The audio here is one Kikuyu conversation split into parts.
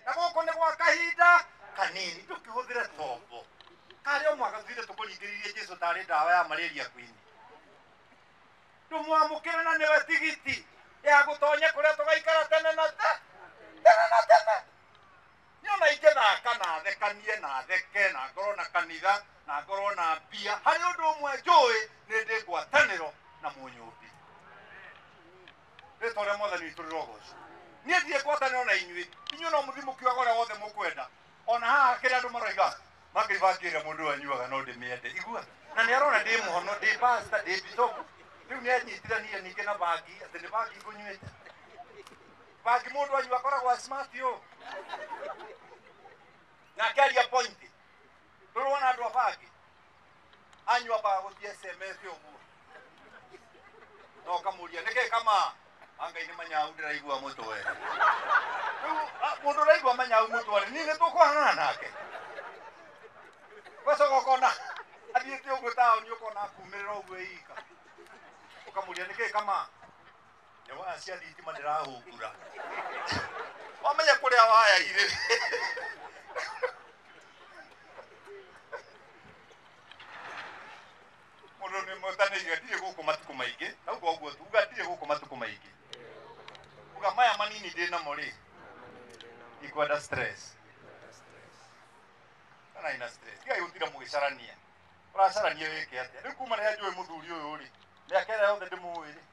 na gũkũ nĩ gwa kahinda kanini tũkĩhũthĩre tombo karĩ o mwaka tuithe tũkũringĩririe jesu tarĩ ndawa ya malaria kwini tũmwamũkĩre na nĩwe tigiti ya gũtonya kũrĩa tũgaikara tene na te tene na tene nyona ingĩthaka na thekanie na theke na ngorwo na kanitha na ngorwo na mbia harĩ ũndũ ũmwe njũĩ nĩ ndĩ ngwatanĩro na mũnyũmbi rĩtwa rĩa mwathani witũ rĩrogocwo niĩ ndirĩ ngwatanĩro na inyuĩ inyuĩ no mũthiĩ mũkiuga ũrĩa wothe mũkwenda ona haha kĩrĩa andũ maroiga makaiba ngĩrĩa mũndũ ũyũ anyuaga no ndĩmĩende igua na nĩ arona ndĩ mũhono ndĩ pasta ndĩ bicobu rĩu nĩ anyitithania ningĩ na bangi atĩ nĩ bangi ngũnyuĩte bangi mũndũ anyu akoragwo smart ũũ nake aria pointi ndũrona andũ a bangi anywa bagũthie sms ũmũthĩ na ũkamũria nĩkĩ kama angai nĩ manyau ndĩraigua mũtwe rĩu a- mũndũ ũraigua manyau mũtwe nĩ nĩ tũkũhang'ana nake ũgacoka ũkona athiĩte ũguo taoni ũkona akumĩrĩra ũguo ĩika ũkamũria nĩkĩ kama nĩ waya cia thitima ndĩrahũngura wamenya kũrĩa waya irĩ mũndũ nĩ mũtanĩire ndirĩ gũkũ matukũ maingĩ nauga ũguo tuga ndirĩ gũkũ matukũ maingĩ uga maya manini ndĩ namo rĩ ikwenda stress kana ina stress tigai gũtira mũgĩcarania ũracarania wĩke atĩa rĩu kuma rĩrĩa njũĩ mũthuri ũyũ rĩ mĩaka ĩrĩa yothe ndĩmũĩ rĩ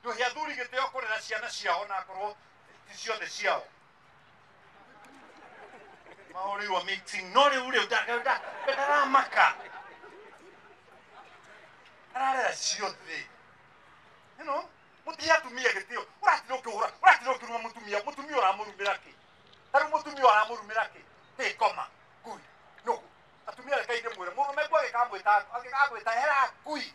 nduhe athuri gĩtĩo kũrera ciana ciao na ngorwo ti ciothe ciao maũrĩirwo meeting no rĩu rĩu nda- nda- nda- ndaramaka ararera ciothe you know mutia atumia gitio uratira ukihura uratira ukiruma mutumia mutumia uramurumira ki taru mutumia uramurumira ki ti koma ngui no atumia reka inde mwire murume kwa gikamwita agigagwita hera ngui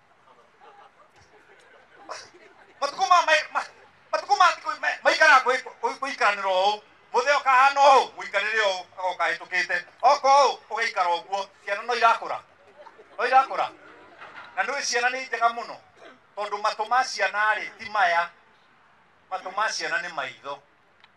matukũ ma mai- ma- matukũ ma thikũ ma- maikara gwĩ- gwĩ- gũikaranĩra ũũ mũthee ũkahana ũũ mũikarĩre ũũ agoka hĩtũkĩte oka ũũ ũgaikara ũguo ciana no irakũra no irakũra na nĩ ciana nĩ njega mũno tondũ matũ ma ciana rĩ ti maya matũ ma ciana nĩ maitho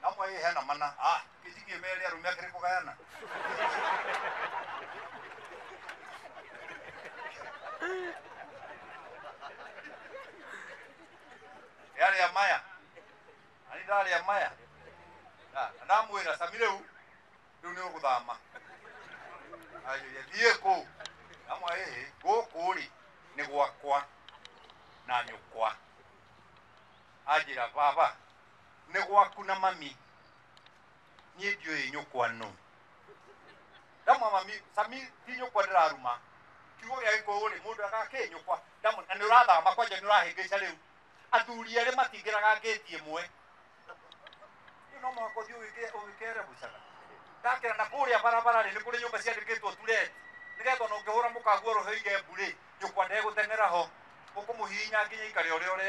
na mwa ĩ hena mana ah kĩjigĩ merĩ arũme akĩrĩ kũgayana yarĩa maya na nĩ ndarĩa maya na na ndamwĩra sami rĩu rĩu nĩ ũgũthama Ayũria, thiĩ kũ amwa ĩ gũkũ rĩ nĩ gwakwa na nyũkwa anjĩra baba nĩ gwaku na mami niĩ ndiũĩ nyũkwa nũ ndamwa mami sami ti nyũkwa ndĩraruma kiugo gĩa gĩkũyũ rĩ mũndũ agakĩ nyũkwa ndamwa na nĩ ũrathama kwanja nĩ ũrahĩngĩca rĩu athuri erĩ matingĩraga ngĩti ĩmwe rĩu no mũhaka ũthiĩ ũgĩke- ũgĩkere gũcaga ndakĩra na kũrĩa barabara rĩ nĩ kũrĩ nyũmba ciandĩkĩtwo tureti nĩgetha ona ũngĩhũra mũkaguo roho igembu rĩ nyũkwa ndegũteng'era ho ũkũmũhihinya nginya ikare ũrĩa ũrĩ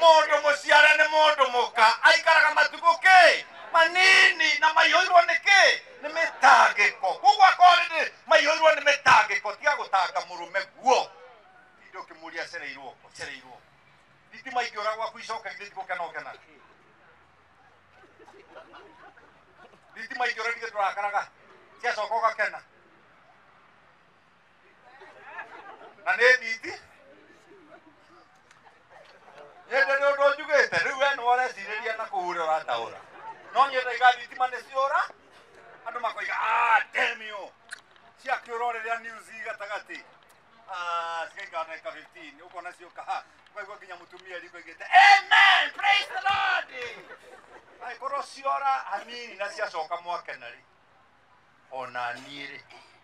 mũndũ mũciare nĩ mũndũ mũka aikaraga matukũ kĩ manini na maihũirwo nĩ kĩ nĩ mĩtangĩko koguo akorwo nĩ maihũirwo nĩ mĩtangĩko tiga gũtanga mũrũme guo tindĩ ũkĩmũria cereirwo kũ, cereirwo kũ. thitima ingĩũra gwaku icoke githĩ ndigũkena ũkena thitima ingĩũra ndigĩ tũrakaraga ciacoka ũgakena na nĩ nditi nyende nĩ ũndũ njugĩte rĩu we nĩ ũrecirĩria na kũhũrĩa ũrataũra no niĩ ndaiga thitima nĩ ciũra andũ makoiga "Ah, damn you ciakĩũra rĩrĩa news i gatagatĩ Ah, cigaikara ndagĩka 15 ũkona ciũka ha ũkaigua nginya mũtumia riko igĩte amen praise the lord angĩkorwo ciora hanini na ciacoka mwakena rĩ ona niĩ rĩ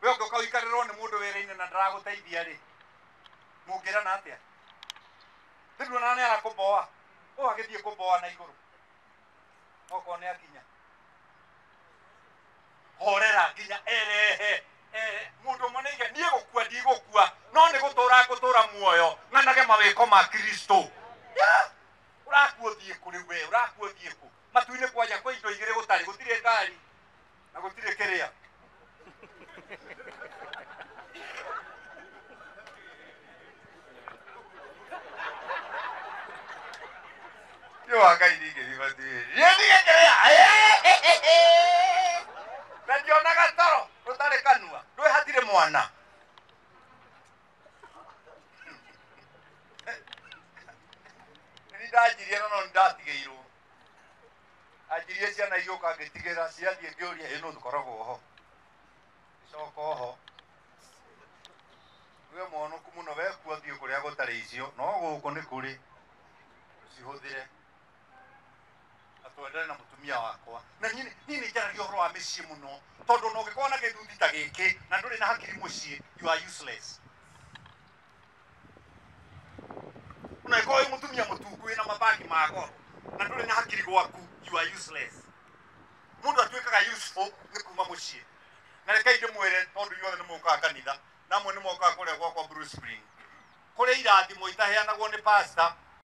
we ũngĩũka ũikarĩrwo nĩ mũndũ wĩra-inĩ na ndaragũteithia rĩ mũngĩrana atĩa nĩnduona nĩ arakũmboa ũ agĩthiĩ kũmboa na igũrũ okorwo nĩ akinya horera nginya erehe eh, mũndũ ũmwe nĩ iga niĩ gũkua ndigũkua no nĩ gũtũra ngũtũra muoyo ng'anage mawĩko ma kristo Yeah! ũrakua ũthiĩ kũ rĩu we ũrakua ũthiĩ kũ matu-inĩ kwanja kwĩ indo igĩrĩ gũtarĩ gũtirĩ ngari na gũtirĩ kĩrĩa nĩ wa ngai ningĩthimatiĩ niĩ ndigĩ kĩrĩa na ndiona gatoro ũtarĩ kanua ndwĩ hatirĩ mwana nĩ ndanjirie no no nĩ ndatigĩirwo anjirie ciana igĩũka ngĩtigĩra ciathiĩ ngĩũria ĩno tũkoragwo ho gĩcoka oho we mwonoku mũno wekua thiĩ kũrĩa gũtarĩ icio no gũkũ nĩ kũrĩ cihũthĩre na twendane na mũtumia wakwa na niĩ niĩ nĩ njaragia ũhoro wa mĩciĩ mũno tondũ ona ũngĩkorwo na gĩthuthi ta gĩkĩ na ndũrĩ na hakiri mũciĩ you are useless unaikoo wĩ mũtumia mũtuku wĩna mabangi ma goro na ndũrĩ na hakiri gwaku you are useless mũndũ atuĩkaga useful nĩ kuma mũciĩ na rekei ndĩmwĩre tondũ inyuothe nĩ mũkaga kanitha namwe nĩ mokaga kũrĩa gwakwa Bruce Spring kũrĩ irathimo itaheanagwo nĩ pastor